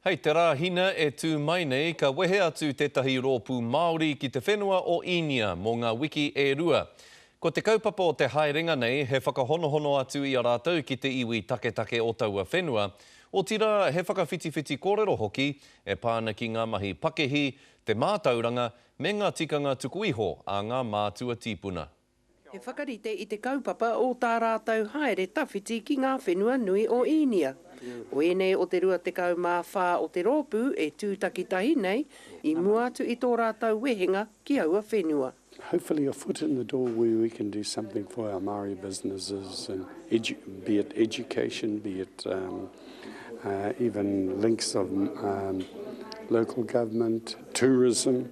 Hei te Rāhina e tū mai nei ka wehe atu tētahi rōpū Māori ki te whenua o Īnia mō ngā wiki e rua. Ko te kaupapa o te haerenga nei he whakahonohono atu i a rātou ki te iwi taketake o taua whenua, otirā he whakawhitiwhiti kōrero hoki e pā ana ki ngā mahi pakihi, te mātauranga, me ngā tikanga tuku iho a ngā mātua tīpuna. He whakarite i te kaupapa o tā rātou haere tawhiti ki ngā whenua nui o Īnia. Ko ēnei o te 24 o te rōpū e tū takitahi nei i mua atu i tō rātou wehenga ki aua whenua. Hopefully a foot in the door where we can do something for our Māori businesses and be it education, be it even links of local government, tourism.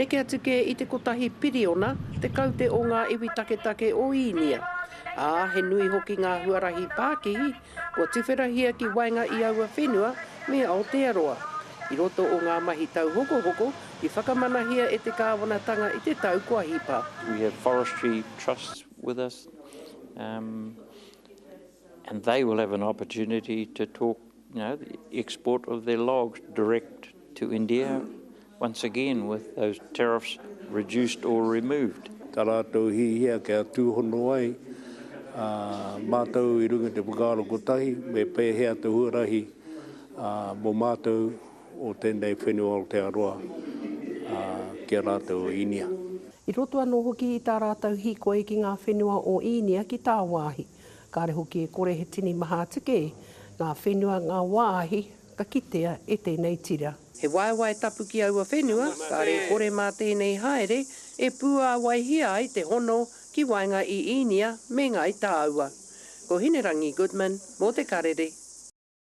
Neke atu kē i te kotahi piriona tekau te o ngā iwi taketake o Īnia, ā, he nui hoki ngā huarahi pākihi kua tuwherahia ki waenga i aua whenua me Aotearoa. I roto o ngā mahi tauhokohoko i whakamanahia e te kāwanatanga i te tau kua hipa. We have forestry trust with us and they will have an opportunity to talk, you know, export of their logs direct to India. Once again with those tariffs reduced or removed. Tā rātou hihia kia tūhono ai ā mātou i runga i te whakaaro kotahi me pēhea te huarahi ā mō mātou o tēnei whenua Aotearoa ā ki a rātou o Īnia. I roto anō hoki i tā rātou hīkoi ki ngā whenua o Īnia ki tāwāhi. Kāre hoki e kore he tini maha tika e ngā whenua ngā wāhi Ka kitea e tēnei tira. He waewae tapu ki aua whenua, kare kore mā tēnei haere e pūāwaihia ai te hono ki waenga i Īnia me Ngāi Tāua. Ko Hinerangi Goodman mō Te Karere.